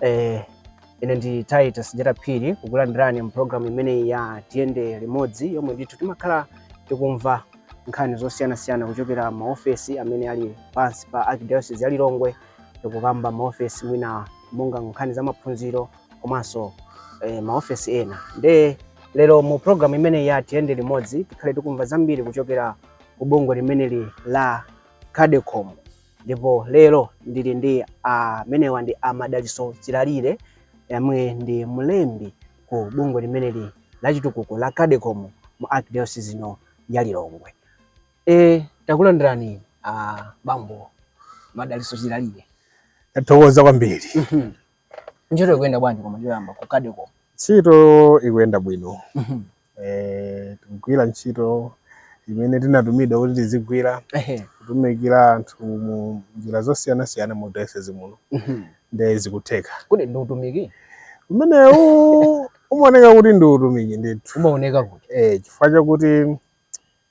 Eh, ine ndi Titus Jera Phiri kukulandirani mu program imeneyi ya Tiyende Limodzi yomwe ndithu timakhala tikumva nkhani zosiyanasiyana kuchokera maofesi amene ali pansi pa Archdiocese ya Lilongwe tikukamba maofesi mwina monga nkhani za maphunziro komanso eh, maofesi ena nde lero mu program imeneyi ya Tiyende Limodzi tikhale tikumva zambiri kuchokera ku bungwe limeneli la Cadecom Ndipo lero ndili ndi amenewa ndi a Madalitso Chilalire yemwe ndi mlembi ku bungwe limeneli la chitukuko la Cadecom mu Arkidayosizi ino ya Lilongwe. E, takulandirani a bambo Madalitso Chilalire. Tathokoza kwambiri. Mhm. Ntchito ikuyenda bwanji koma choyamba ku Cadecom? Ntchito ikuyenda bwino. Mhm. Tikugwira ntchito imene tinatumidwa kuti tizigwira, kutumikira anthu mu njira zosiyanasiyana mu dayosizi muno, mhm. nde zikutheka. Kodi ndi utumiki umenewu umaoneka kuti? Ndi utumiki ndithu, umaoneka kuti eh, chifukwa chakuti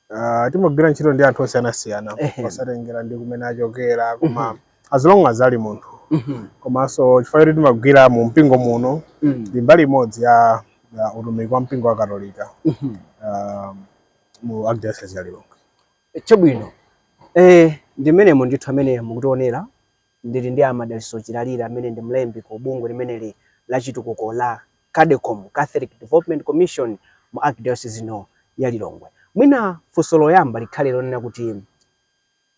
Uh, timagwira ntchito ndi anthu osiyanasiyana osatengera ndi kumene achokera koma mm -hmm. as long as ali munthu mm -hmm. komanso chifukwa choti timagwira mu mpingo muno mm. ndi mm. mbali imodzi ya, ya utumiki wa mpingo wa katolika mm -hmm. uh, mu archdiocese ya lilongwe chabwino eh, ndi mmenemo ndithu amene mukutionera Ndili ndi a Madalitso Chilalire amene ndi mlembi ku bungwe limeneli la chitukuko la Cadecom, Catholic Development Commission, mu Arkdayosizi ino ya Lilongwe. Mwina funso loyamba likhale lonena kuti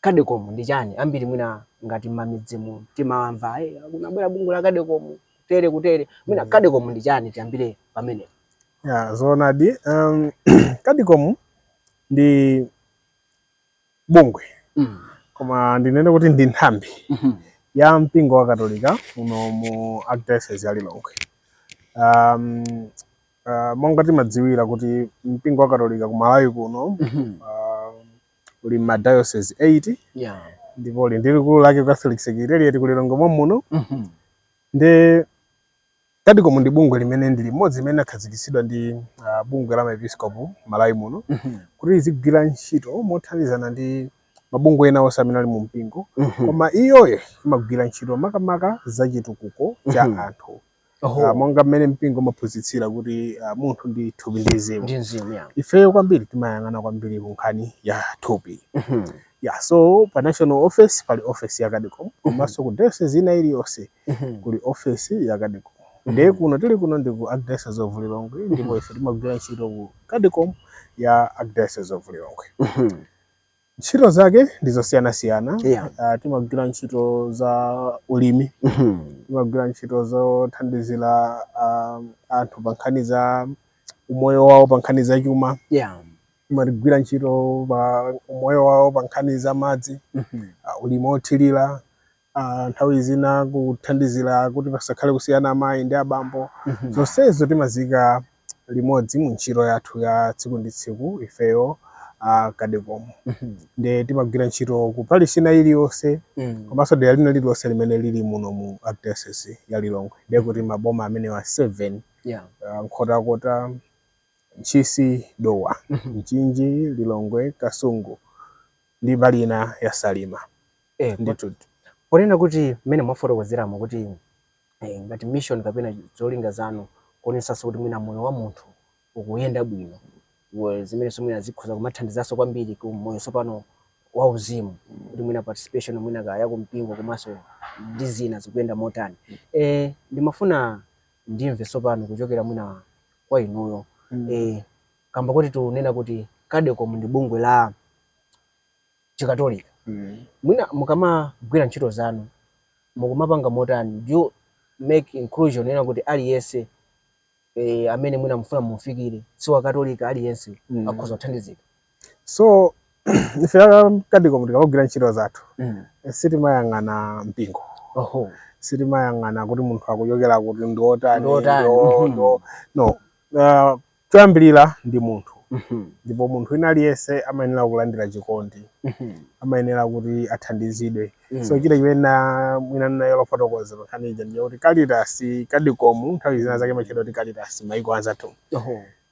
Cadecom ndi chani? Ambiri mwina ngati mmamidzimu timamva hey, kunabwera bungwe la Cadecom kutere kutere. Mwina Cadecom ndi chani? Tiyambire pamenepo. Ya, zoonadi. Um, Cadecom ndi bungwe mm. koma ndinene kuti ndi nthambi mm -hmm. ya mpingo wa katolika muno mu archdiocese ya lilongwe um, uh, monga timadziwira kuti mpingo wa katolika ku malawi kuno mm -hmm. uh, uli ma diocese 8 yeah. ndipo uli ndi likulu lake catholic secretariat ku lilongwe mommuno mm -hmm. ndi Cadecom ndi bungwe limene ndi limodzi limene linakhazikitsidwa ndi uh, bungwe la maepiskopu Malawi muno mm -hmm. kuti lizigwira ntchito mothandizana ndi mabungwe ena onse amene ali mu mpingo mm -hmm. koma iyoyo imagwira ntchito makamaka za chitukuko cha mm -hmm. anthu uh, monga mmene mpingo umaphunzitsira kuti uh, munthu ndi thupi ndi mzimu ifeyo kwambiri timayang'ana kwambiri ku nkhani ya thupi mm -hmm. yeah, so pa national office pali office ya Cadecom komanso mm -hmm. ku diocese ina iliyonse kuli ofesi ya Cadecom ndiye kuno tili kuno ndi ku Archdiocese of Lilongwe ndipo ife timagwira ntchito ku Cadecom ya Archdiocese of Lilongwe ntchito zake ndi zosiyanasiyana Yeah. Ah, timagwira ntchito za ulimi timagwira ntchito zothandizira ah, anthu pa nkhani za umoyo wawo pa nkhani za chuma Yeah. timagwira ntchito pa umoyo wawo pa nkhani za madzi ah, ulimi othirira nthawi zina kuthandizira kuti pasakhale kusiyana amayi ndi abambo zonsezo timaziika limodzi mu ntchito yathu ya tsiku ndi tsiku ifeyo a Cadecom nde timagwira ntchito ku parish ina iliyonse komanso dera lina lililonse limene lili muno mu archdiocese ya Lilongwe ndiye kuti maboma amenewa 7 Yeah. ah, Nkhotakota Ntchisi Dowa Mchinji Lilongwe Kasungu ndi mbali ina ya Salima Eh, Ndi- kuti- ponena kuti mmene mwafotokozeramo kuti eh, ngati mission kapena zolinga zanu kuonetsanso kuti mwina moyo wa munthu ukuyenda bwino wo- zimenenso mwina zikhoza kumathandizanso kwambiri ku moyo sopano wa uzimu kuti mwina participation mwina kaya kumpingo komanso ndi zina zikuyenda motani eh, ndimafuna ndimve sopano kuchokera mwina kwa inuyo Mm. eh, kamba koti tikunena kuti cadecom ndi bungwe la chikatolika mm. mwina mukamagwira ntchito zanu mukumapanga motani do you make inclusion ena kuti aliyense eh, amene mwina mufuna mumufikire si wakatolika aliyense mm. akhoza kuthandizika so ife a Cadecom tikamagwira ntchito zathu mm. Eh, sitimayang'ana mpingo oho sitimayang'ana kuti munthu akuchokera kuti ndiotani mhm. no uh, Choyambirira ndi munthu ndipo munthu wina aliyense amayenera kulandira chikondi, amayenera kuti athandizidwe. So china chimene na- mwina ndaiwala kufotokoza pa nkhani ija ndi kuti Caritas Cadecom nthawi zina zake imatchedwa kuti Caritas maiko anzathu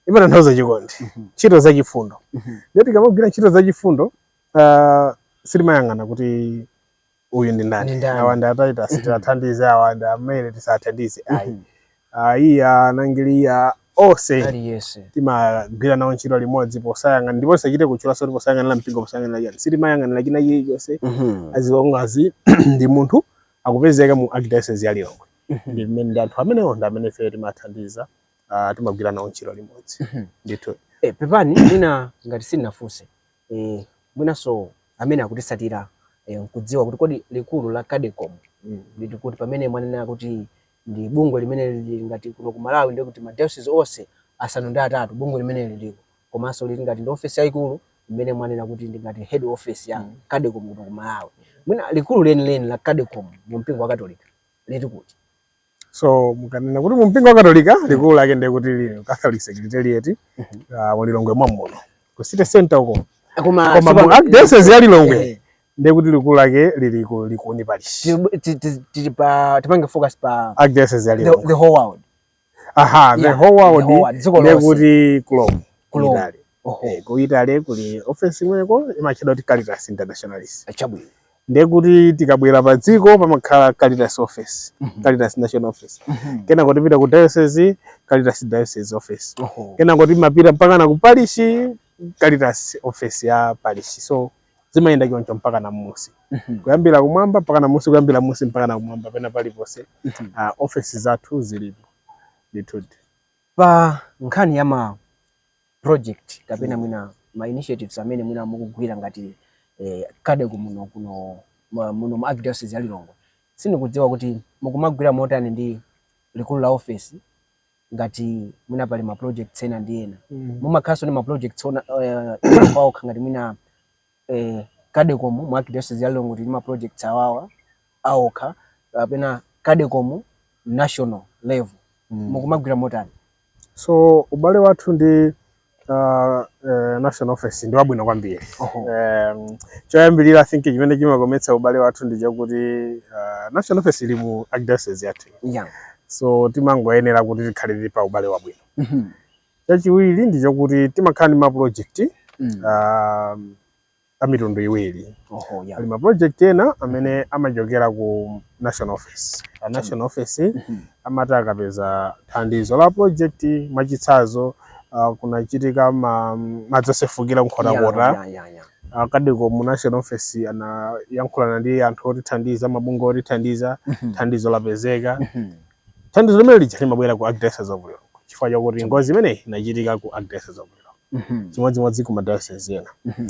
imatanthauza chikondi, ntchito zachifundo. Ndiye tikamagwira ntchito zachifundo ah, sitimayang'ana kuti uyu ndi ndani Ndi ndani? awa ndi ataitasi Mhm. tiwathandize awa ndi amene tisathandize ayi Mhm. ayi anthu onse Aliyense. timagwira nawo ntchito limodzi posayang'ana ndipo tisachite kutchulanso kuti posayang'anira mpingo posayang'anira chani sitimayang'anira china chilichonse Mhm. as long as ndi munthu akupezeka mu archdiocese ya lilongwe Mhm. ndi mmene ndi anthu amenewo ndi amene ife timathandiza ah, timagwira nawo ntchito limodzi Mhm. ndithu Eh, pepani mwina ngati sindinafunse eh, mwinanso amene akutitsatira eh, nkudziwa kuti kodi likulu la Cadecom mm, lili kuti pamene mwanena kuti ndi bungwe limene lili ngati kuno ku Malawi ndiye kuti madiocese onse asanu ndi atatu bungwe limeneli liliko komanso lili ngati ndi ofesi yayikulu imene mwanena kuti ndi ngati head office ya Cadecom kuno ku Malawi mwina likulu lenileni la Cadecom mu mpingo wa Katolika lili kuti So mukanena kuti mumpingo wa Katolika mm. likulu lake ndiye kuti Catholic Secretariat uh, mm-hmm. mu Lilongwe mommuno ku city center uko eh, koma mu archdiocese ya Lilongwe eh. ndiye kuti likulu lake lili ku Likuni parish tipange focus pa archdiocese ya Lilongwe the whole world aha the whole world ndiye kuti ku Rome ku Rome Oho. Eh, ku Italy kuli office imweko imatchedwa kuti Caritas Internationalis. Chabwino. Ndiye kuti tikabwera pa dziko pamakhala Caritas office, Mhm. Caritas National Office. Mhm. Kenako timapita ku diocese, Caritas Diocese Office. Oho. Kenako timapita mpaka na ku parish, Caritas office ya parish. So zimayenda choncho mpaka na mmusi. Mhm. Kuyambira kumwamba mpaka na mmusi, kuyambira mmusi mpaka na kumwamba pena paliponse. Mhm. Ah, office zathu zilipo. Ndithudi. pa nkhani ya ma project kapena mm. mwina ma initiatives amene mwina mukugwira ngati eh, Cadecom muno kuno muno mu Archdiocese ya Lilongwe sindikudziwa kuti mukumagwira motani ndi likulu la office ngati mwina pali ma projects ena ndi ena mm. mumakhalanso ndi ma projects ena uh, eh, okha ngati mwina eh, Cadecom mu Archdiocese ya Lilongwe tili ndi ma projects awawa aokha kapena Cadecom national level mm. mukumagwira motani? So ubale wathu ndi uh, uh, national office ndi wabwino kwambiri um, choyambirira I think chimene chimakometsa ubale wathu ndi chakuti uh, national office ili mu Archdiocese yathu yeah. so timangoyenera kuti tikhale tili pa ubale wabwino mm -hmm. Chachiwiri ndi chakuti timakhala ndi ma project mm. uh, a mitundu iwiri. Oho, yeah. Pali ma project ena amene amachokera ku national office. A national office mm -hmm. amati akapeza thandizo la project mwachitsanzo uh, kunachitika ma, madzi osefukira ku Nkhotakota yeah, yeah, yeah, yeah. A Cadecom national office anayankhulana ndi anthu otithandiza mabungwe otithandiza mm -hmm. thandizo lapezeka mm -hmm. thandizo limene lija limabwera ku Archdiocese of Lilongwe chifukwa chakuti ngozi imeneyi inachitika ku Archdiocese of Lilongwe Mhm. chimodzimodzi ku madayosezi ena Mhm.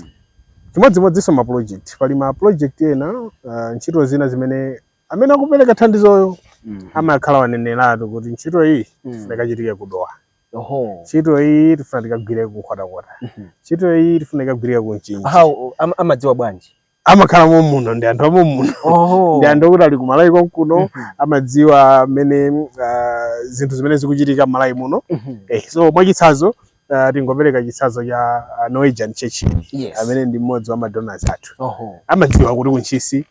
chimodzimodzinso ma project pali ma project ena uh, ntchito zina zimene amene akupereka thandizoyo Mhm. amakhala waneneratu kuti ntchito iyi Mm. tifuna ikachitike ku Dowa Oho. ntchito iyi tifuna tikagwire ku Nkhotakota Mhm. ntchito iyi tifuna ikagwirike ku Mchinji How am- amadziwa bwanji? amakhala mommuno ndi anthu a mommuno ndi anthu okuti ali ku malawi konkuno mhm. amadziwa mmene uh, zinthu zimene zikuchitika m'malawi muno mhm. eh, so mwachitsanzo uh, tingopereka chitsanzo cha uh, norwegian church yes. amene ndi mmodzi wa madonors athu amadziwa kuti ku ntchisi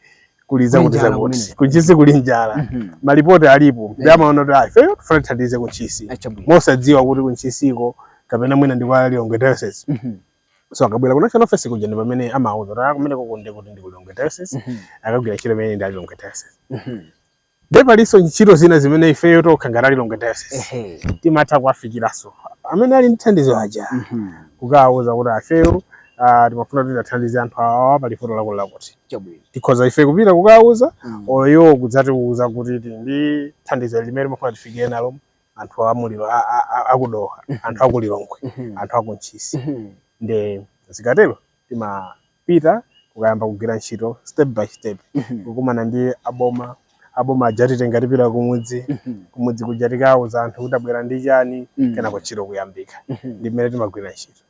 kuli zakuti zakuti ku ntchisi kuli njala mhm. malipoti alipo ndi amaona kuti ah, ifeyo tifuna tithandize ku ntchisi mosadziwa kuti ku ntchisiko kapena mwina ndi kwa lilongwe diocese so akabwera ku national office kuja ndi pamene amauza kuti ah kumenekoko ndi kuti ndi ku lilongwe diocese mm -hmm. akagwira ntchito imene ndi a lilongwe diocese mm -hmm. nde palinso ntchito zina zimene ifeyo tokha ngati a lilongwe diocese timatha kuwafikiranso amene ali ndi thandizo aja mm -hmm. kukawauza kuti ah ifeyo uh, timafuna kuti tithandize anthu awa pali vuto lakuti lakuti tikhoza ife kupita kukawauza mm. iwo kudzatiuza kuti ndi thandizo limene timafuna tifikire nalo anthu a muliro a- a- a- a ku dowa anthu a ku lilongwe Mhm. anthu a ku ntchisi Mhm. nde zikatero timapita kukayamba kugwira ntchito step by step Mhm. kukumana ndi aboma aboma aja atitenga tipita kumudzi Mhm. kumudzi kuja tikauza anthu kuti tabwera ndi chani Mhm. kenako ntchito kuyambika Mhm. ndi mmene timagwira ntchito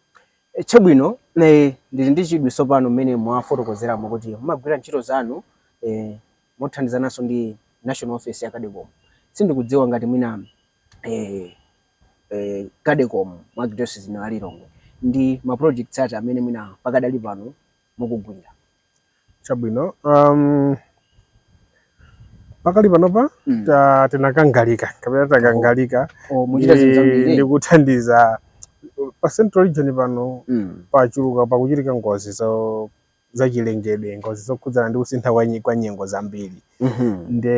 E, chabwino nde ndili ndi chidwi tsopano mmene mwafotokozeramo kuti mumagwira ntchito zanu e, mothandizananso ndi National Office ya Cadecom. Sindikudziwa ngati mwina eh, eh, Cadecom mu Archdiocese ino ya Lilongwe ndi ma projects ati amene mwina pakadali pano mukugwira. chabwino um, pakali panopa Mm. ta- tinakangalika kapena takangalika Oh, muchita zinthu zambiri. ndi kuthandiza pa central region pano Mm. pachuluka pakuchitika ngozi zo zachilengedwe, ngozi zokhudzana ndi kusintha kwa nyi- kwa nyengo zambiri Mhm. nde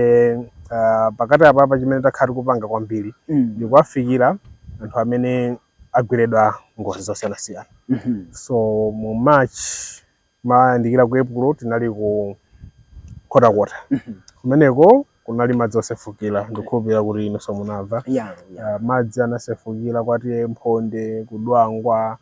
ah, pakati apapa chimene takhala tikupanga kwambiri Mm. ndikuwafikira anthu amene agweredwa ngozi zosiyanasiyana Mhm. so mu march mayandikira ku epulo tinali ku nkhotakota kumeneko kunali madzi osefukira ndikukhulupirira kuti inunso munamva Yeah, yeah. Ah, madzi anasefukira kwa ta mphonde ku dwangwa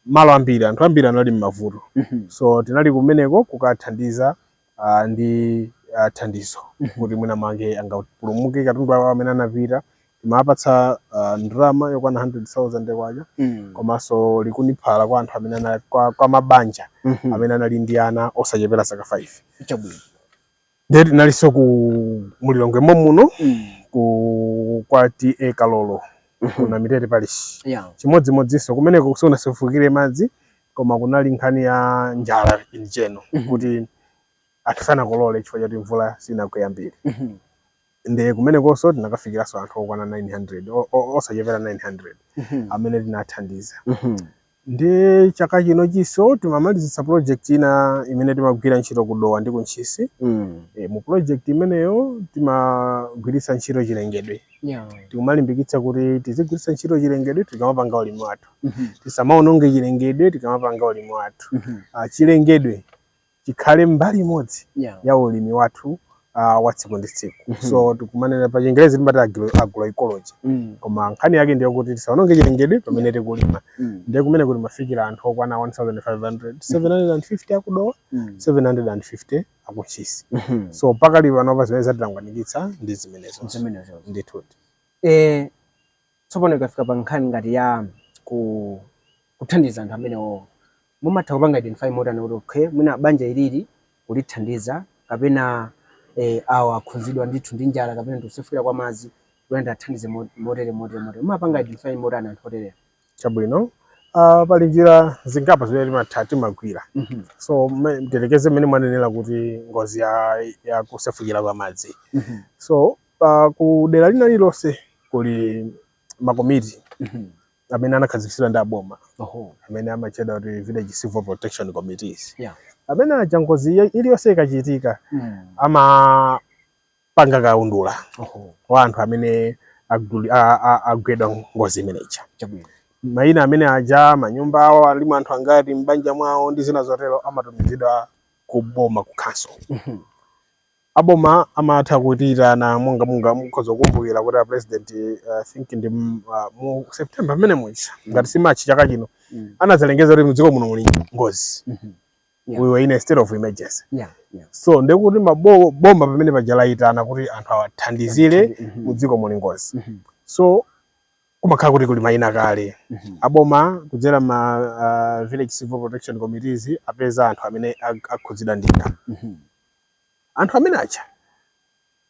malo ambiri, anthu ambiri anali m'mavuto. Mhm. So tinali kumeneko kukathandiza uh, ndi uh, thandizo mhm. kuti mwina mwake angapulumuke katundu awo amene anapita timawapatsa uh, ah, ndalama yokwana 100,000 kwacha mm. komanso likuniphala kwa anthu amene anali kwa, kwa mabanja mm -hmm. amene anali ndi ana osachepera zaka 5 chabwino ndiye tinalinso ku mu lilongwe mommuno mm. ku kwa ta kalolo mm -hmm. kuna namitete parish yeah. chimodzimodzinso kumeneko sikunasefukire madzi koma kunali nkhani ya njala in general mm -hmm. kuti anthu sanakolole chifukwa choti mvula sinagwe yambiri mm -hmm. nde kumenekonso tinakafikiranso anthu okwana 900 o- o- osachepera 900 Mhm. amene tinathandiza Mhm. ndi chaka chino chinso timamalizitsa project ina imene timagwira ntchito ku dowa ndi ku ntchisi Mm. e, mu project imeneyo timagwiritsa ntchito chilengedwe Yeah. tikumalimbikitsa kuti tizigwiritsa ntchito chilengedwe tikamapanga ulimi wathu Mhm. tisamaononge chilengedwe tikamapanga ulimi wathu Mhm. Ah, chilengedwe chikhale mbali imodzi yeah. ya ulimi wathu uh, wa tsiku ndi tsiku mm -hmm. so tikumanena pa chingerezi timati agroecology mm. koma nkhani yake ndiyo kuti tisaononge chilengedwe pamene tikulima mm. ndiye kumeneko timafikira anthu okwana 1500 750 akudowa mm. 750 akuntchisi mm -hmm. so pakali panopa zimene zatitangwanikitsa ndi zimenezo zimenezo ndithudi eh tsopano ikafika pa nkhani ngati ya ku kuthandiza anthu amenewo mumatha kupanga identify motani kuti okay mwina banja ili ndi kulithandiza kapena eh awa akhudzidwa ndithu ndi njala kapena ndi kusefukira kwa madzi kuti ndiwathandize mo- motere motere motere mumapanga identify motani anthu oterewa chabwino uh, pali njira zingapo zimene timatha timagwira Mhm, so mme- ndiyerekeze mmene mwanenera kuti ngozi ya, ya kusefukira kwa madzi mhm, so uh, ku dera lina lilonse kuli makomiti mhm, amene anakhazikitsidwa ndi aboma Oho. amene amatchedwa kuti village civil protection committees Yeah. amene aja ngozi iyo- iliyonse ikachitika Mm. amapanga kaundula Oho. wa anthu amene aguli- a- a- agwedwa ngozi imeneja Chabwino. mayina amene aja manyumba awo alimo anthu angati m'banja mwawo ndi zina zotero amatumizidwa ku boma ku council Mhm. aboma amatha kutiitana monga mwina mukhoza kukumbukira kuti a president eh, I think ndi m- ah, mu september mmene muja ngati si march chaka chino Mm. anazalengeza kuti mdziko muno muli ngozi Mhm. Yeah. we were in a state of emergency Yeah, yeah. so ndekuti mabo- boma pamene paja layitana kuti anthu awathandizire Mhm. mudziko muli ngozi Mhm. so kumakhala kuti kuli mayina kale Mhm. aboma kudzera ma ah, village civil protection committees apeza anthu amene ak- akhudzidwa ndi Mhm. anthu amene aja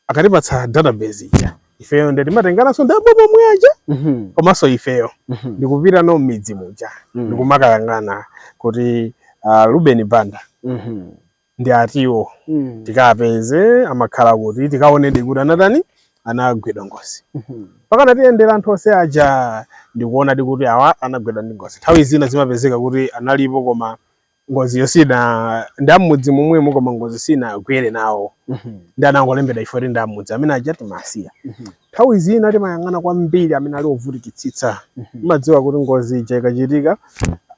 akatipatsa database ija ifeyo nde timatengananso ndi aboma omwe aja Mhm. komanso ifeyo Mhm. ndikupita no m'midzi muja Mm. ndikumakayang'ana kuti uh, Ruben Banda Mhm. ndi atiwa Mm. tikapeze amakhala kuti tikaonedi kuti anatani anagwedwa ngozi Mhm. mpakana tiyendera anthu onse aja ndikuona kuti awa anagwedwadi ndi ngozi nthawi zina zimapezeka kuti analipo koma ngoziyo sina ndi am'mudzi momwemo koma ngozi sinagwere nawo mhm. ndi anangolembedwa chifukwa kuti ndi am'mudzi amene aja timawasiya mhm. nthawi zina timayang'ana kwambiri amene ali ovutikitsitsa mhm. timadziwa kuti ngozi ija ikachitika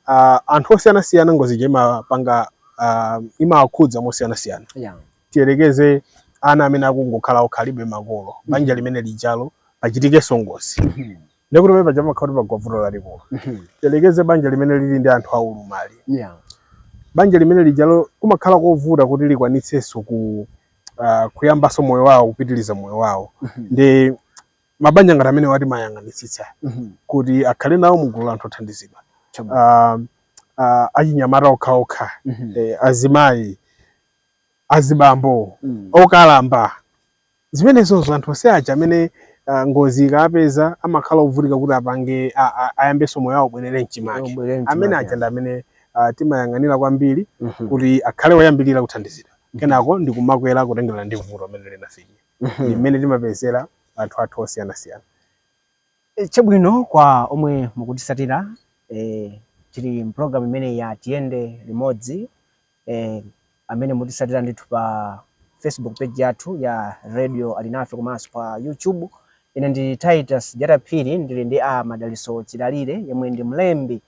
ah, anthu osiyanasiyana ngozi ija imapanga ah, imawakhudza mosiyanasiyana tiyerekeze ana amene akungokhala okhalibe makolo banja limene lijalo pachitikenso ngozi ndikuti pamene paja pamakhala kuti pagwa vuto lalikulu Mhm. tiyerekeze banja limene lili ndi anthu aulumali Yeah. banja limene lijalo kumakhala kovuta kuti likwanitsenso ku uh, kuyambanso moyo wawo kupitiriza moyo wawo Mhm. ndi mabanja ngati amenewa timayang'anitsitsa Mhm. kuti akhale nawo mu gulu la anthu othandizidwa Chabwino. uh, uh, achinyamata okhaokha Mhm. eh, azimayi azibambo Mm. okalamba Zimenezozo anthu onse aja amene ah, ngozi ikawapeza amakhala ovutika kuti apange a- a- ayambenso moyo wawo ubwerere mchimake Ubwere mchimake. amene aja ndi amene ah, timayang'anira kwambiri Mhm. kuti akhale oyambirira kuthandizidwa kenako ndi kumakwera kutengerana ndi vuto amene linafika Mhm. ndi mmene timapezera anthu athu osiyanasiyana Eh, chabwino kwa omwe mukutisatira eh, tili mpulogalamu imeneyi ya tiyende limodzi amene mukutisatira ndithu pa Facebook page yathu ya Radio Alinafe komanso pa YouTube. Ine ndi Titus Jata Phiri ndili ndi a Madaliso Chilalire yemwe ndi mlembi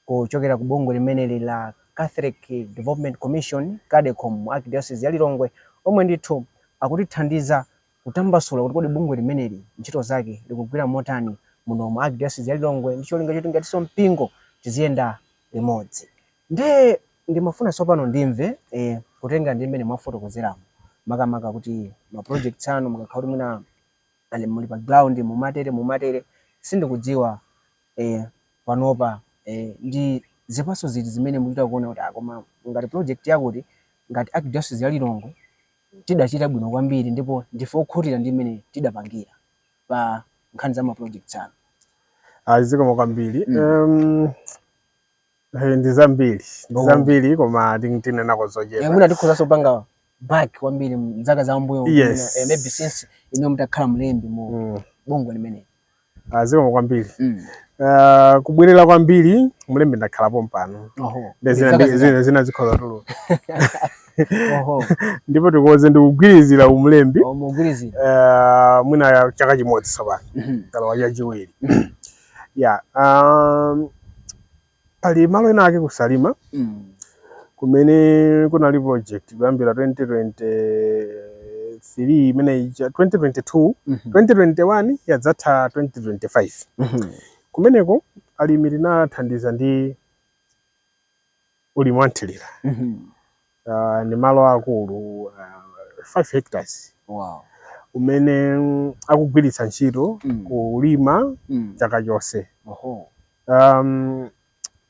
kuchokera ku bungwe limeneli la Catholic Development Commission CADECOM mu Archdiocese ya Lilongwe omwe ndithu akutithandiza kutambasula kuti kodi bungwe limeneli ntchito zake likugwira motani muno mu Archdiocese ya Lilongwe ndi cholinga choti ngatinso mpingo tiziyenda limodzi. Ndiye ndimafuna tsopano ndimve kutengera ndi mmene mwafotokozeramo makamaka kuti ma projects anu mukakhala kuti mwina ali kuti pa ground mumatere mumatere sindikudziwa panopa ndi zipatso ziti zimene mukuchita kuona kuti ah koma ngati project yakuti ngati Archdiocese ya Lilongwe tidachita bwino kwambiri ndipo ndife okhutira ndi mmene tidapangira pa nkhani za ma projects anu. Ayi zikomo kwambiri. Eh, ndi zambiri ndi Oh. zambiri koma ting- tinenako Eh, zochepa mwina tikhoza osapanga back kwambiri mzaka za mbuyo Yes. eh, maybe since inu mutakhala mlembi mu Mm. bungwe limeneli Ah, zikomo kwambiri Mm. Ah, kubwerera kwambiri mlembi ndakhala pompano Oho. Ndi zina- Zaka ndi- zina- zina- zina zikhozatu oho. ndipo tikonze ndikugwirizira umlembi Oh, mugwirizira Ah, mwina chaka chimodzi tsopano Mhm. nkulowa chachiwiri ya um, pali malo ena ake ku Salima mm. kumene kunali project kuyambira 2023 imene ija 2022 mm -hmm. 2021 yazatha 2025 mm -hmm. kumeneko alimi tinawathandiza ndi ulimi wa nthilira Mhm. uh, ni malo akulu uh, 5 hectares Wow. umene mm, akugwiritsa ntchito Mm. kulima Mm. chaka chonse Oho. um,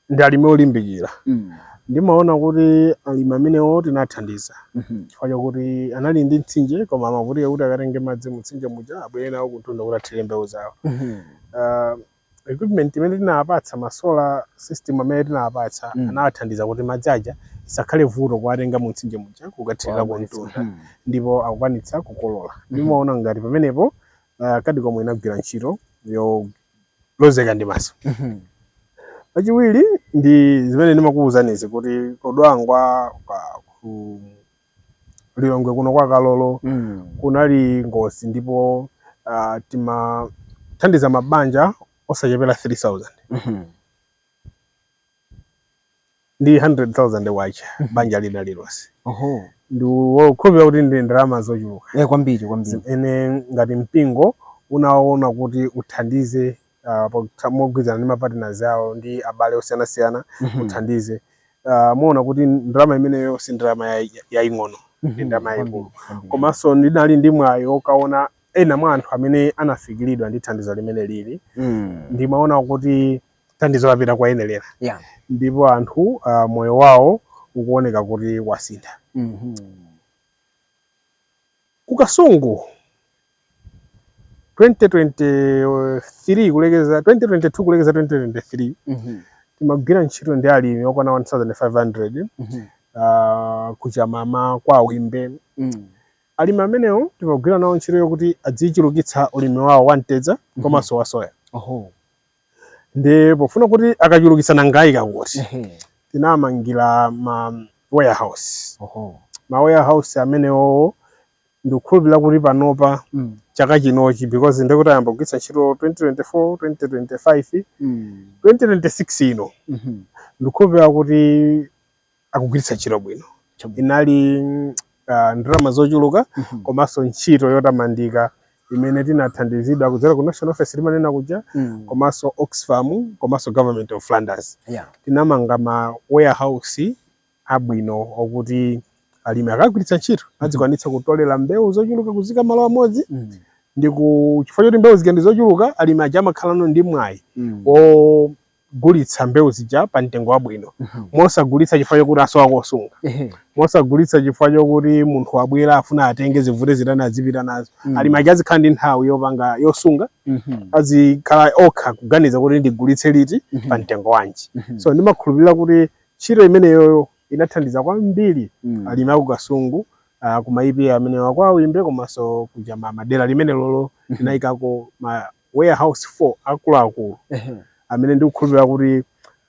ndi alimi olimbikira Mm. ndimaona kuti alimi amenewo tinathandiza Mhm. chifukwa chakuti anali ndi mtsinje koma amavutika kuti akatenge madzi mutsinje muja abwere nawo kuntunda kuti athire mbewu zawo Mhm. uh, Equipment imene tinawapatsa ma solar system amene tinawapatsa mm. anawathandiza kuti madzi aja isakhale vuto kuwatenga mu mtsinje muja kukathirira ku mtunda mm. ndipo akukwanitsa kukolola mm. ndimaona ngati pamenepo uh, eh, CADECOM inagwira ntchito yolozeka ndi maso mm -hmm. pachiwiri ndi zimene ndimakuwuzanizi kuti ku Dwangwa kwa ku Lilongwe kuno kwa Kalolo Mm. kunali ngozi ndipo ah, timathandiza mabanja osachepera 3000 Mhm. ndi 100000 kwacha banja lina lilonse Oho. ndikukhulupirira kuti ndi ndalama zochuluka Eh, kwambiri kwambiri. zimene ngati mpingo unaona kuti uthandize uh, pokha- mogwirizana ndi mapartners awo ndi abale osiyanasiyana Mhm. uthandize uh, muona kuti ndalama imeneyo si ndalama yai- yaing'ono ndi ndalama yaikulu Kwambiri, kwambiri. komanso ndinali ndi mwayi okaona ena mwa anthu amene anafikiridwa ndi thandizo limeneli Mm. ndimaona kuti thandizo lapita kwa oyenerera Yeah. ndipo anthu uh, moyo wawo ukuoneka kuti wasintha Mhm. ku Kasungu 2023 kulekeza 2022 kulekeza 2023 Mhm, timagwira ntchito ndi alimi okwana 1500 mhm, ah, ku Chamama kwa Wimbe mm, alimi amenewo timagwira nawo ntchito yokuti adzichulukitsa ulimi wawo wa mtedza komanso wa soya oho, ndi pofuna kuti akachulukitsa nanga ayika kuti ehe, tinamangira ma warehouse oho, ma warehouse amenewo ndikukhulupirira kuti panopa mm. chaka chinochi because ndikuti ayamba kugwiritsa ntchito 2024 2025 mm. 2026 ino mm -hmm. ndikukhulupirira kuti akugwiritsa ntchito bwino inali uh, ndalama zochuluka mm -hmm. komanso ntchito yotamandika imene tinathandizidwa kudzera ku national office timanena kuja mm. komanso Oxfam komanso government of Flanders yeah. tinamanga ma warehouse abwino okuti alimi akagwiritsa ntchito mhm. adzikwanitsa kutolera mbewu zochuluka kuziika malo amodzi mhm. ndi chifukwa choti mbewu zija ndi zochuluka alimi aja amakhalano ndi mwayi mhm. ogulitsa mbewu zija pa mtengo wabwino mosagulitsa chifukwa chokuti asowa kosunga mosagulitsa chifukwa chokuti munthu wabwera afuna atenge zivute zitani azipita nazo alimi aja azikhala ndi nthawi yopanga yosunga azikhala okha kuganiza kuti ndigulitse liti pa mtengo wanji so ndimakhulupirira kuti Ntchito imeneyoyo inathandiza kwambiri Mm. alimi aku Kasungu ah, ku ma EPA amene a kwa Wimbe komanso kuja ma- madera limenelolo tinayikako ma warehouse 4 akuluakulu Ehe. amene ndikukhulupirira kuti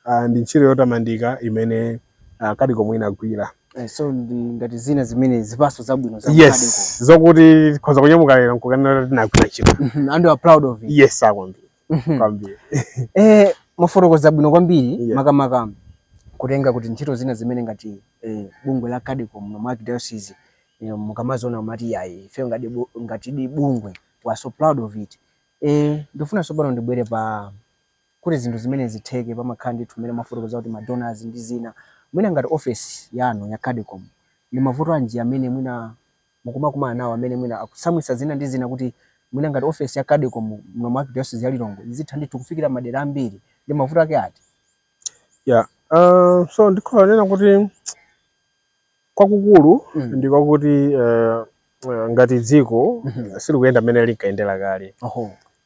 ah, ndi ntchito yotamandika imene ah, Cadecom inagwira. Eh, so ndi ngati zina zimene zipatso zabwino za Cadecom. Yes, zokuti tikhoza kunyamuka lero n'kukanena kuti tinagwira ntchito. Mhm, and you are proud of it. Yes, ah, kwambiri. Mhm. kwambiri Eh, mwafotokoza bwino kwambiri Yeah. makamaka kutenga kuti ntchito zina zimene ngati eh, bungwe la Cadecom muno mu archdiocese eh, mukamaziona mati yayi ifeyo ngati bu- ngatidi bungwe we are so proud of it eh, ndifuna tsopano ndibwere pa kuti zinthu zimene zitheke pamakhala ndithu mmene mwafotokoza kuti madonors ndi zina mwina ngati office yanu ya Cadecom ndi mavuto anji amene mwina mukumakumana nawo amene mwina akutsamwitsa zina ndi zina kuti mwina ngati ofesi ya Cadecom muno mu Arkidayosizi ya Lilongwe izitha ndithu kufikira madera ambiri, ndi mavuto ake ati? Yeah, uh, so ndikhoza kunena kuti kwakukulu mm. ndi kwakuti uh, uh, ngati dziko mm -hmm. silikuyenda mmene linkayendera kale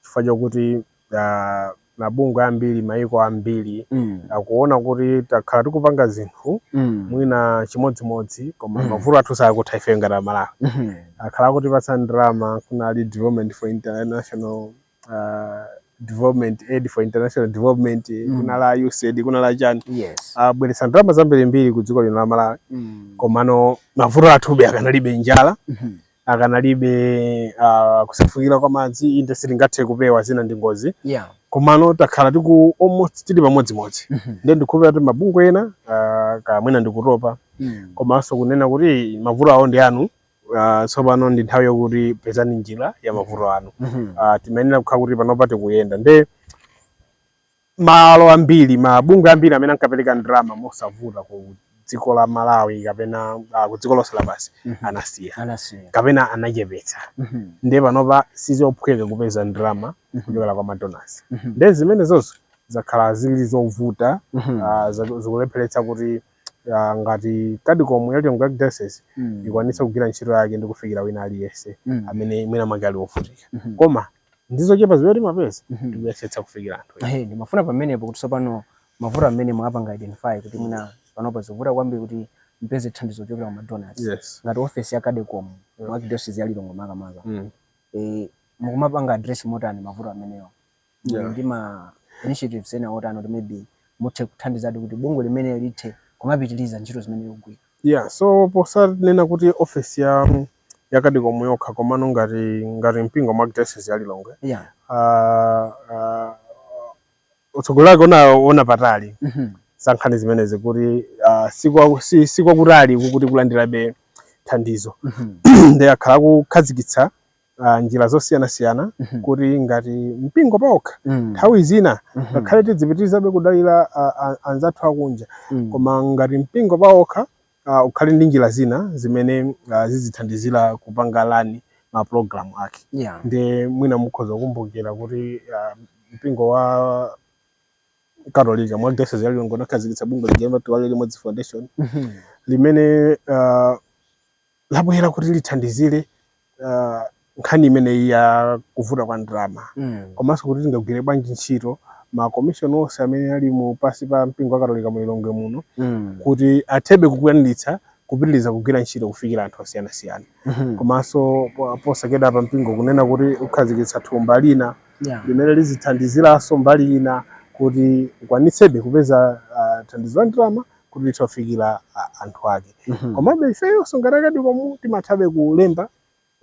chifukwa chakuti uh, mabungwe ambiri mayiko ambiri mm. akuona kuti takhala tikupanga zinthu mm. mwina chimodzimodzi koma mm. mavuto athu sakutha ife ngati amalawi mm -hmm. akhala akutipatsa ndalama kunali Department for international uh, development Aid for international development mm. kunali USAID kunali chani yes. abweretsa ah, ndalama zambirimbiri ku dziko lino la Malawi mm. komano mavuto athube akanalipobe njala mm -hmm. akanalipobe uh, kusefukira kwa madzi inde sitingathe kupewa zina ndi ngozi yeah. komano takhala tiku almost tili pamodzimodzi mm -hmm. nde ndikukhulupirira kuti mabungwe ena uh, kaya mwina ndikutopa mm. komanso kunena kuti mavuto awo ndi anu uh, tsopano ndi nthawi yokuti pezani njira ya mavuto anu mm -hmm. uh, timayenera kukhala kuti panopa tikuyenda nde malo ambiri mabungwe ambiri amene ankapereka ndalama mosavuta ku dziko la Malawi kapena uh, ku dziko lonse lapansi mm -hmm. anasiya kapena anachepetsa mm -hmm. ndiye panopa sizophweka kupeza ndalama mhm. kuchokera kwa madonors mm -hmm. ndiye zimenezozo zakhala zili zovuta mm -hmm. uh, zikulepheretsa kuti uh, ngati Cadecom ya Lilongwe Archdiocese mm -hmm. ikwanitse kugwira ntchito yake ndi kufikira wina aliyense mm -hmm. amene mwina mwake ali wovutika mm -hmm. koma ndi zochepa zimene timapeza Mhm. tikuyesetsa kufikira anthu ena. Ehe, ndimafuna pamenepo kuti tsopano mavuto amene mwapanga identify kuti mwina panopa zikuvuta kwambiri kuti mupeze thandizo kuchokera kwa madonors yes ngati ofesi ya Cadecom Yeah. mu archdiocese ya Lilongwe makamaka mm. eh, mukumapanga address motani mavuto amenewa Muli Yeah. ndi ma initiatives ena otani kuti maybe muthe kuthandizadi kuti bungwe limeneli lithe kumapitiriza ntchito zimene likugwira yeah so posanena kuti ofesi ya ya CADECOM yokha komano ngati mpingo mu archdiocese ya Lilongwe yeah. uh, uh, utsogoleri wake unaona patali mm -hmm. za nkhani zimenezi kuti uh, sikwakutali kuti kulandirabe thandizo mm -hmm. ndiye akhala akukhazikitsa uh, njira zosiyanasiyana mm -hmm. kuti ngati mpingo paokha mm. nthawi mm. zina mm-hmm. ngakhale mm -hmm. tidzipitirizabe kudalira uh, anzathu akunja mm. koma ngati mpingo paokha a ukhale ndi njira zina zimene a zizithandizira kupanga run ma program ake Yeah. ndiye mwina mukhoza kukumbukira kuti a, mpingo wa katolika mu archdiocese ya Lilongwe unakhazikitsa bungwe lija amati Tiwale Limodzi Foundation Mhm. limene uh, labwera kuti lithandizire uh, nkhani imeneyi ya kuvuta kwa ndalama mm. komanso kuti tingagwire bwanji ntchito makomishoni onse amene ali mu pasi pa mpingo wa katolika mu lilongwe muno mm. kuti athebe kukwaniritsa kupitiriza kugwira ntchito kufikira anthu osiyanasiyana mm -hmm. komanso posachedwapa mpingo kunena kuti ukhazikitsa thumba lina yeah. limene lizithandiziranso mbali ina kuti ukwanitsebe kupeza uh, thandizo la ndalama kuti tithe kufikira a- anthu ake Mhm. komabe ifeyonso ngati a CADECOM timathabe kulemba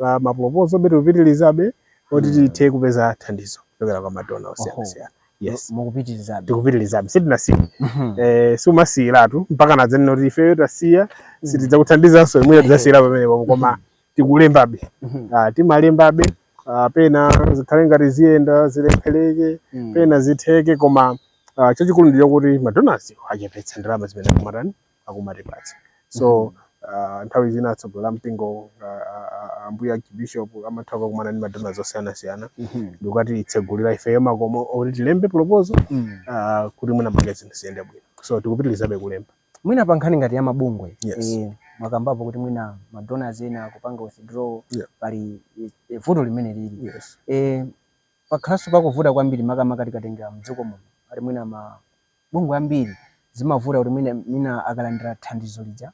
a maproposalbe tikupitirizabe kuti Mm. tithe kupeza thandizo kuchokera kwa madona Oho. osiyanasiyana yes mukupitirizabe tikupitirizabe sitinasiye Mhm. eh, siumasiyiratu mpakana adzanena kuti ifeyo tasiya sitidzakuthandizanso ndiye mwina tidzasiyira pamenepo koma tikulembabe Mhm. Ah, timalembabe ah, pena zikhale ngati ziyenda zilephereke Mm. pena zitheke koma ah, chachikulu ndicho kuti madonors achepetsa ndalama zimene akumatani akumatipatsa so ah, nthawi zina atsogoleri a mpingo ah, ah, ah, ambuye archbishop amatha kukumana ndi madonors osiyanasiyana Mhm. ndikatitsegulira ifeyo makomo oti tilembe proposal Mm. ah, kuti mwinamwake zinthu ziyende bwino so tikupitirizabe kulemba Mwina pa nkhani ngati ya mabungwe yes. E, mwakambapo kuti mwina ma donors ena akupanga withdraw yeah. pali e, e, vuto limene lili yes. E, pakhalanso pakuvuta kwambiri makamaka tikatengera mdziko muno ali mwina mabungwe ambiri zimavuta kuti mwina, mwina akalandira thandizo lija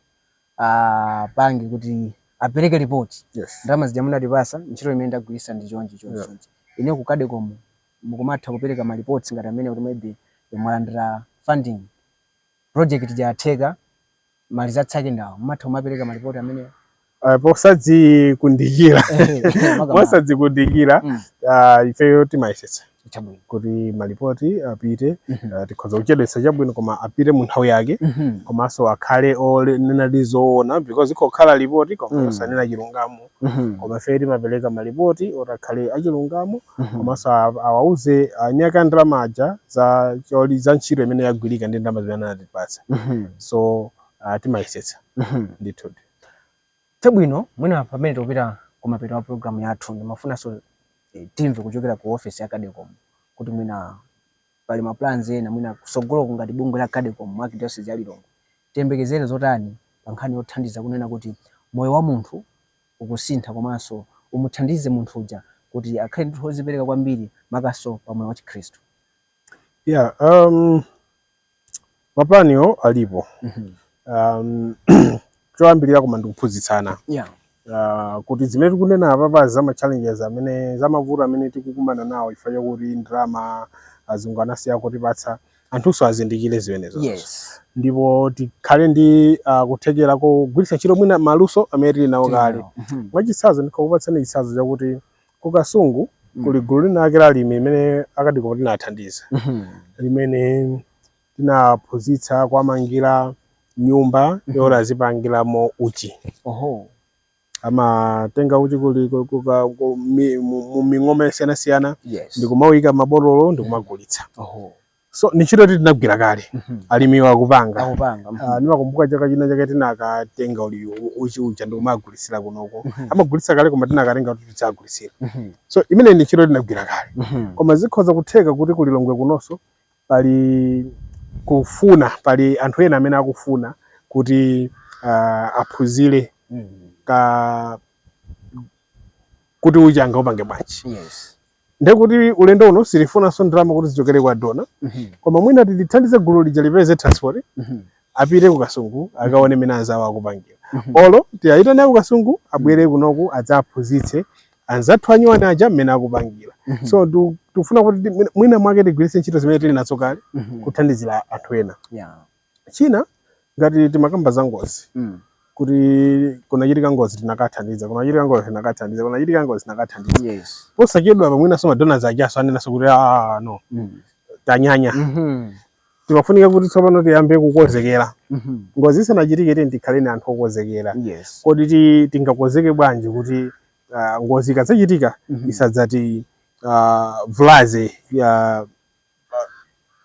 apange kuti apereke ripoti yes. ndalama zija munatipasa ntchito imene ndagwiritsa ndi chonchi chonchi yeah. inu ku CADECOM mukumatha kupereka ma reports ngati amene kuti maybe mwalandira funding project ija yatheka ma results ake ndi awo mumatha kumapereka malipoti amenewa posadzikundikira posadzikundikira mm. uh, ifeyo timayesetsa kuti malipoti apite mm -hmm. uh, tikhoza kuchedwetsa chabwino koma apite mu nthawi yake mm -hmm. komanso akhale onenadi zoona because ikhoza kukhala lipoti koma mm. osanena mm. chilungamo Mhm. koma ifeyo timapereka malipoti oti akhale achilungamo Mhm. komanso a- awauze anyaka ndalama aja za ntchito imene yagwirika ndi ndalama zimene anatipatsa Mhm. so uh, timayesetsa Mhm. ndithu chabwino mwina pamene tikupita kumapeto wa programu yathu ndimafunanso eh, timve kuchokera ku ofesi ya Cadecom kuti mwina pali ma plans ena mwina kusogoloku ngati bungwe la Cadecom mu Archdiocese ya Lilongwe tiyembekezere zotani pa nkhani yothandiza kunena kuti moyo wa munthu ukusintha komanso umuthandize munthu uja kuti akhale ndithu ozipereka kwambiri makamakanso pa moyo wa chikhristu? Yeah, um, Mapulaniwo alipo. Mhm. Um, choyambirira koma ndikuphunzitsana Yeah. uh, kuti zimene tikunena apapazi za ma challenges amene za mavuto amene tikukumana nawo chifukwa chakuti ndalama azungu anasiya kutipatsa anthunso azindikire zimenezo Yes. ndipo tikhale ndi uh, kuthekera kogwiritsa ntchito mwina maluso amene tili nawo kale Mhm. mwachitsanzo ndikakupatsani chitsanzo chakuti Ku Kasungu Mm. kuli gulu linalake la alimi limene a Cadecom tinathandiza Mhm. limene tinaphunzitsa kuwamangira nyumba Mhm. yoti azipangiramo uchi Oho. amatenga uchi kuli ku- ku- ka- ku- mi- mu mu ming'oma yosiyanasiyana Yes. ndikumawuyika mabotolo ndikumagulitsa Oho. so ni ntchito yoti tinagwira kale Mhm. alimiwo akupanga Akupanga. Mhm. Ah, ndimakumbuka chaka china chake tinakatenga uli uchi uja ndikumagulitsira kunoko amagulitsa kale koma tinakatenga kuti tidzagulitsire Mhm. so imeneyi ni ntchito tinagwira kale Mhm. koma zikhoza kutheka kuti ku Lilongwe kunonso pali kufuna pali anthu ena amene akufuna kuti ah, aphunzire Mhm. ka kuti uchi angaupange bwanji Yes. ndekuti ulendo uno sitifunanso ndalama kuti zichokere kwa dona mm -hmm. koma mwina tithandize gulu lija lipeze transport mm -hmm. apite ku kasungu akaone mmene anzawo akupangira mm -hmm. olo tiyayitane ku kasungu abwere mhm. kunoku adzaphunzitse anzathu anyuwani aja mmene akupangira mm -hmm. so du, tufuna kuti mwina mwake tigwiritse ntchito zimene tili nazo kale mm -hmm. kuthandizira anthu ena yeah. china ngati timakamba za ngozi Mm. kuti kunachitika ngozi tinakathandiza kunachitika ngozi tinakathandiza kunachitika ngozi tinakathandiza Yes. posachedwapa mwinanso madonors ajanso anenanso kuti "Ah, no Mm. tanyanya Mhm. timafunika kuti tsopano tiyambe kukonzekera Mhm. ngozi isanachitike tiyeni tikhale ni anthu okonzekera Yes. kodi ti- tingakonzeke bwanji kuti ah, ngozi ikadzachitika Mhm. isadzati- ah, -vulaze ya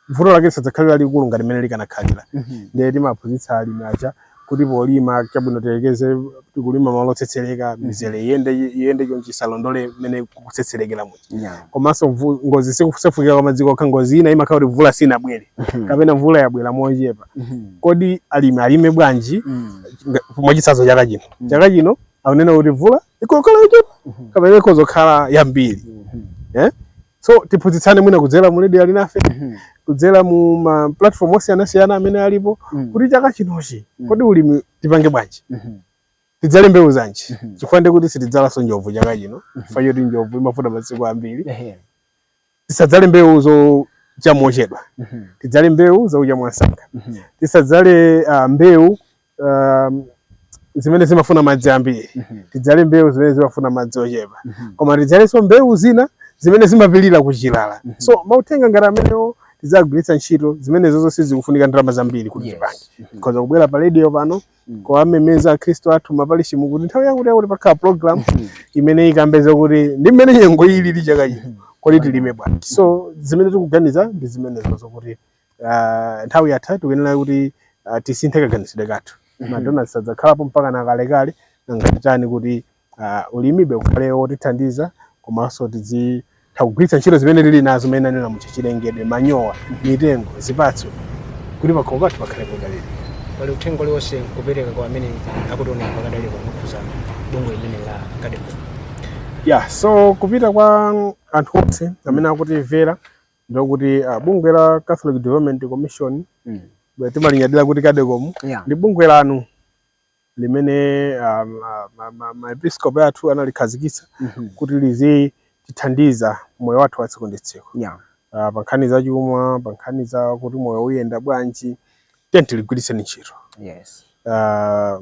vuto lake lisadzakhale lalikulu ngati mmene likanakhalira Mhm. ndiye timaphunzitsa alimi aja kuti polima chabwino tiyerekeze tikulima malo otsetsereka mizere iyende iyende chonchi isalondole mmene kukutsetserekera muja Yeah. komanso mvu- ngozi sikusefukira kwa madzi kokha ngozi ina imakhala kuti mvula sinabwere Mhm. kapena mvula yabwera mochepa Mhm. kodi alimi alime bwanji Mm. nga- mwachitsanzo chaka chino Mm. chaka chino akunena kuti mvula ikhoza kukhala yochepa Mhm. kapena ikhoza kukhala yambiri Mhm. so tiphunzitsane mwina kudzera mu radio ali nafe Mhm. kudzera mu ma platform osiyanasiyana amene alipo Mm. kuti chaka chinochi Mm. kodi ulimi tipange bwanji Mhm. tidzale mbewu zanji Mhm. chifukwa ndiye kuti sitidzalanso njovu chaka chino chifukwa choti njovu imafuna masiku ambiri Ehe. tisadzale mbewu zocha mochedwa Mhm. tidzale mbewu zocha mwansanga Mhm. tisadzale ah, mbewu um, zimene zimafuna madzi ambiri mm -hmm. tidzale mbewu zimene zimafuna madzi ochepa mm -hmm. koma tidzalenso mbewu zina zimene zimapilira kuchilala mm -hmm. so mauthenga ngati amenewo tidzagwiritsa ntchito zimenezozo sizikufunika ndalama zambiri kuti tipange yes. mm -hmm. tikhoza kubwera pa radio pano mm. kuwamemeza akhristu athu m'mapalishimu kuti nthawi yakuti yakuti pakhala program mm -hmm. imene ikambe zakuti ndi mmene nyengo ili ili chaka chino mm -hmm. kodi tilime bwanji so zimene tikuganiza ndi zimenezozo kuti ah, nthawi yatha tikuyenera kuti ah, tisinthe kaganizidwe kathu Mhm. madona sadzakhalapo mpaka na kalekale nanga titani kuti ah, ulimibe ukhale wotithandiza komanso tizitha kugwiritsa ntchito zimene tili nazo zimene anena mu zachilengedwe manyowa mitengo zipatso kuti pakhomo pathu pakhale podalira pali uthenga uliwonse kupereka kwa amene akutionera pakadali pano kukhuza bungwe limeneli la Cadecom ya so kupita kwa anthu onse amene akutimvera ndi lokuti ah, bungwe la Catholic Development Commission mm. timalinyadira kuti Cadecom yeah. ndi bungwe lanu limene ah, maepiskopi athu analikhazikitsa mm -hmm. kuti lizitithandiza moyo wathu wa tsiku ndi tsiku yeah. uh, pa nkhani za chuma pa nkhani za kuti moyo uyenda bwanji tiyeni tiligwiritse ntchito yes ah,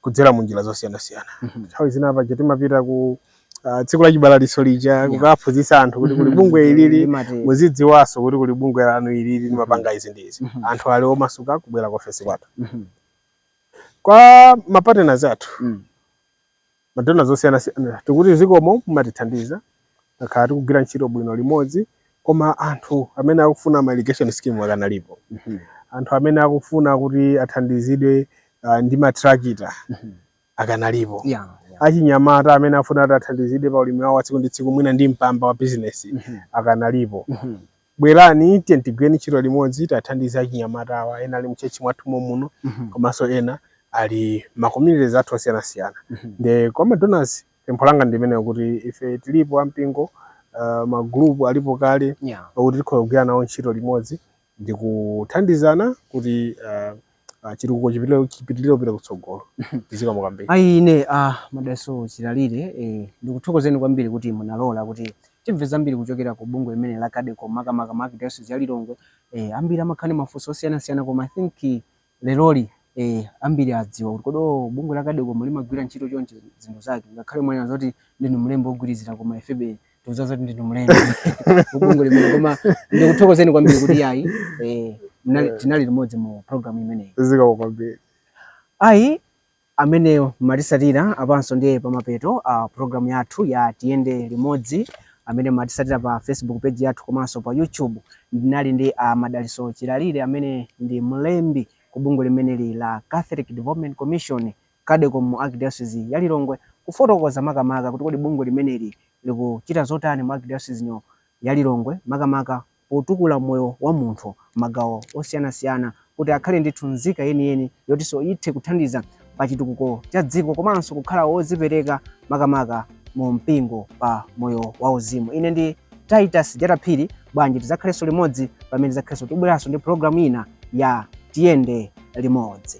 kudzera mu njira zosiyanasiyana Mhm. nthawi zina paja timapita ku ah, tsiku la chibalalitso lija kukaphunzitsa anthu kuti kuli Mhm. bungwe ilili Limati- muzidziwanso kuti kuli bungwe lanu ilili limapanga izi ndi izi Mhm. anthu ali omasuka kubwera ku ofesi kwathu Mhm. kwa mapartners athu Mm. madonors osiyanasiyana tikuti zikomo mumatithandiza takhala tikugwira ntchito bwino limodzi koma anthu amene akufuna ma irrigation scheme akanalipo anthu amene akufuna kuti athandizidwe ah, ndi matrakita akanalipo Yeah, yeah. achinyamata amene afuna kuti athandizidwe pa ulimi wawo wa tsiku ndi tsiku mwina ndi mpamba wa bizinesi Mhm. akanalipo Mhm. Bwerani tiyeni tigwireni ntchito limodzi tathandize achinyamata awa ena ali mchechi mwathu momuno mm -hmm. komanso ena ali ma communities athu osiyanasiyana mm -hmm. nde kwa ma donors pempho langa ndi limenelo kuti ife tilipo ampingo uh, ma group alipo kale yeah. okuti tikhoza kugwira nawo ntchito limodzi ndi kuthandizana kuti uh, ah, chitukuko chipitirire kupita kutsogolo zikomo kwambiri ayi a ah, madaliso chilalire eh, ndikuthokozeni kwambiri kuti munalola kuti timve zambiri kuchokera ku bungwe limeneli la cadecom makamaka mu archdiocese ya lilongwe eh, ambiri amakhala ndi mafunso osiyanasiyana koma i think eh, leroli eh, ambiri adziwa kuti kodi oh, bungwe la cadecom limagwira ntchito chonchi zinthu zake ngakhale mwanena zoti ndinu mlembi wogwirizira koma ifebe tikudziwa zoti ndinu mlembi ku bungwe limeneli koma ndikuthokozeni kwambiri kuti yayi eh, mnali- tinali limodzi mu programu imeneyi zikomo kwambiri ayi amene matisatira apanso ndiye pamapeto a programu yathu ya tiyende limodzi amene matisatira pa facebook page yathu komanso pa youtube ndinali ndi a madaliso chilalire amene ndi mlembi ku bungwe limeneli la catholic development commission Cadecom mu Archdiocese ya Lilongwe kufotokoza makamaka kuti kodi bungwe limeneli likuchita zotani mu Archdiocese ino ya Lilongwe makamaka potukula moyo wa munthu m'magawo osiyanasiyana kuti akhale ndithu nzika yeniyeni yotinso ithe kuthandiza pa chitukuko cha dziko komanso kukhala wozipereka makamaka mu mpingo pa moyo wa uzimu. Ine ndi Titus Jata Phiri, bwanji tidzakhalenso limodzi pamene tidzakhalenso tibweranso ndi program ina ya Tiyende Limodzi.